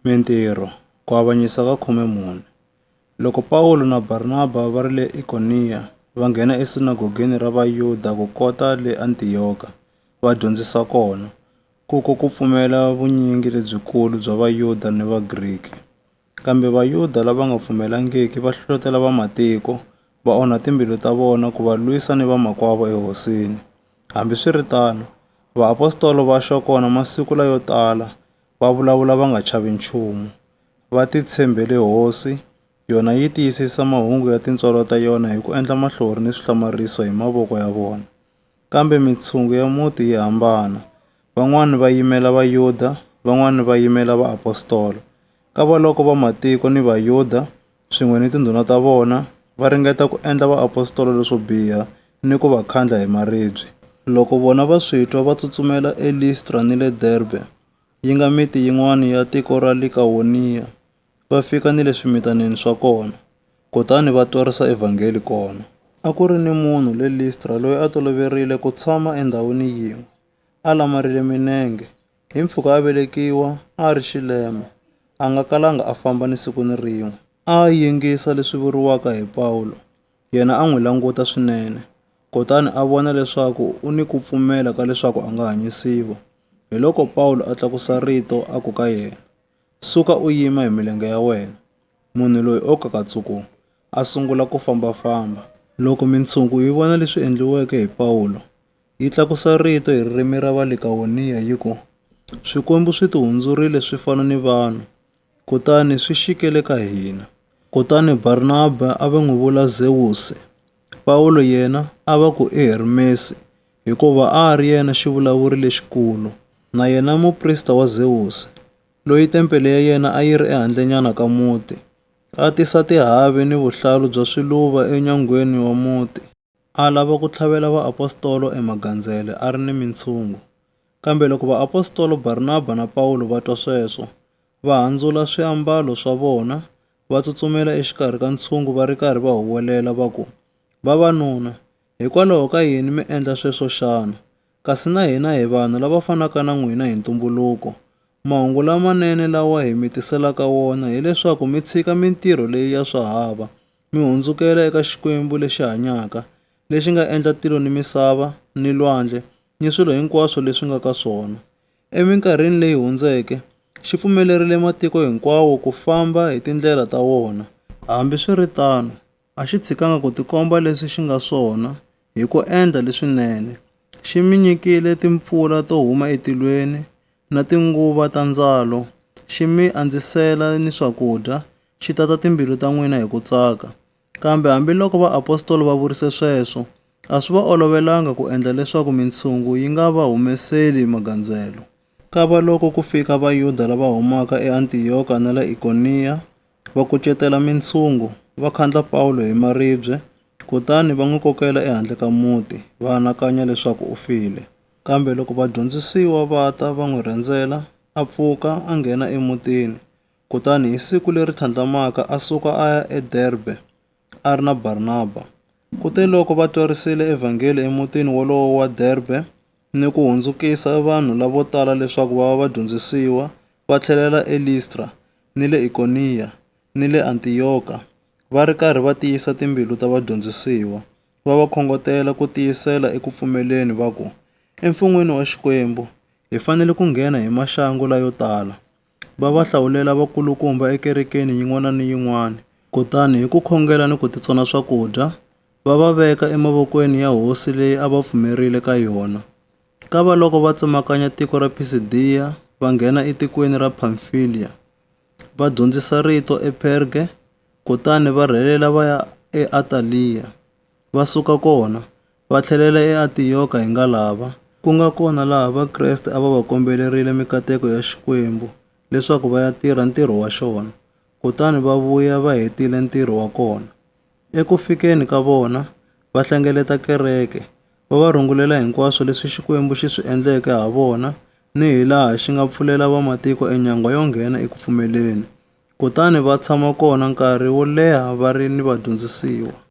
Mintirho, Ku avanyisa ka khume mune. Loko Pawulo na Barnaba va ri le Ikoniya, va nghena esinagogeni ra Vayuda ku kota le Antiyoka, va dyondzisa kona. Kuko ku pfumela vunyingi lebyikulu bya Vayuda ni Vagriki. Kambe Vayuda lava nga pfumelangiki va hlohlotela vamatiko, va onha timbilu ta vona ku va lwisa ni vamakwavo eHosini. Hambiswiritano, vaapostola va xa kona masiku layo tala va vulavula va nga chavi nchumu, va titshembele Hosi, yona yi tiyisisa mahungu ya tintswalo ta yona hi ku endla mahlori ni swihlamariso hi mavoko ya vona. Kambe mitshungu ya muti yi hambana, van'wana va yimela Vayuda, van'wana va yimela vaapostola. Kavaloko vamatiko ni Vayuda swin'we ni tindhuna ta vona va ringeta ku endla vaapostola leswo biha ni ku va khandla hi maribye. Loko vona va swi twa, va tsutsumela eListra ni le Derbe, yi nga miti yin'wana ya tiko ra Likawoniya, va fika ni le swimitanini swa kona, kutani va twarisa Evhangeli kona. A ku ri ni munhu le Listra loyi a toloverile ku tshama endhawini yin'we, a lamarile minenge, Hi mpfhuka a velekiwa, a a ri xilema, a nga kalanga a famba ni siku ni rin'we. A a yingisa leswi vuriwaka hi Pawulo, yena a n'wi languta swinene, kutani a vona leswaku u ni ku pfumela ka leswaku a nga hanyisiwa. Hiloko Pawulo a tlakusa rito a ku ka yena, Suka u yima hi milenge ya wena. Munhu loyi o kakatsuku a sungula ku famba-famba. Loko mintshungu yi vona leswi endliweke hi Pawulo, Yi tlakusa rito hi ririmi ra Valikaoniya yi ku, Swikwembu swi tihundzurile swi fana ni vanhu, kutani swi xikele ka hina. Kutani Barnaba a va n'wi vula Zewusi, Pawulo yena a va ku i Hermesi, hikuva a a ri yena xivulavuri lexikulu, na yena muprista wa Zewusi, loyi tempele ya yena a yi ri ehandlenyana ka muti, a tisa tihavi ni vuhlalu bya swiluva enyangweni wa muti. A lava ku tlhavela vaapostola emagandzele a ri ni mintshungu. Kambe loko vaapostola Barnaba na Pawulo va twa sweswo, va handzula swiambalo swa vona, va tsutsumela exikarhi ka ntshungu va ri karhi va huwelela va ku, Vavanuna, hikwalaho ka yini mi endla sweswo xana? Kasi na hina hi vanhu lava fanaka na n'wina hi ntumbuluko. Mahungu lamanene lawa hi mi tiselaka wona hi leswaku mi tshika mintirho leyi ya swahava mi hundzukela eka Xikwembu lexi hanyaka, lexi nga endla tilo ni misava ni lwandle ni swilo hinkwaswo leswi nga ka swona. Eminkarhini leyi hundzeke, xi pfumelerile matiko hinkwawo ku famba hi tindlela ta wona. Hambi swi ri tano, a xi tshikanga ku tikomba leswi xi nga swona hi ku endla leswinene. Xi mi nyikile timpfula to huma etilweni na tinguva ta ndzalo, xi mi andzisela ni swakudya xi tata timbilu ta n'wina hi ku tsaka. Kambe hambiloko vaapostola va vurise sweswo, a swi va olovelanga ku endla leswaku mintshungu yi nga va humeseli magandzelo. Kavaloko ku fika Vayuda lava humaka eAntiyoka na le Ikoniya, va kucetela mintshungu, va khandla Pawulo hi maribye, kutani va n'wi kokela ehandle ka muti, va anakanya leswaku u file. Kambe loko vadyondzisiwa va ta va n'wi rhendzela, a pfuka, a nghena emutini. Kutani hi siku leri tlhandlamaka a suka a ya eDerbe, a ri na Barnaba. Kuteloko va twarisile Evhangeli emutini wolowo wa Derbe ni ku hundzukisa vanhu lavo tala leswaku va va vadyondzisiwa, va tlhelela eListra, ni le Ikoniya, ni le Antiyoka, va ri karhi va tiyisa timbilu ta vadyondzisiwa, va va khongotela ku tiyisela eku pfumeleni, va ku, Emfun'weni wa Xikwembu, hi fanele ku nghena hi maxangu layo tala. va va hlawulela vakulukumba ekerekeni yin'wana ni yin'wana. Kutani hi ku khongela ni ku titsona swakudya, va va veka emavokweni ya hosi leyi a va pfumerile ka yona. Kavaloko va tsemakanya tiko ra Pisidiya, va nghena etikweni ra Phamfiliya. Va dyondzisa rito ePherge, kutani va rhelela va ya eAtaliya. Va suka kona, Va tlhelela eAntiyoka hi nga lava, ku nga kona laha Vakreste a va va kombelerile mikateko ya Xikwembu leswaku va ya tirha ntirho wa xona, kutani va vuya va hetile ntirho wa kona. Eku fikeni ka vona, va hlengeleta kereke, va va rungulela hinkwaswo leswi Xikwembu xi swi endleke ha vona ni hilaha xi nga pfulela vamatiko enyangwa yo nghena eku pfumeleni, kutani va tshama kona nkarhi wo leha va ri ni vadyondzisiwa.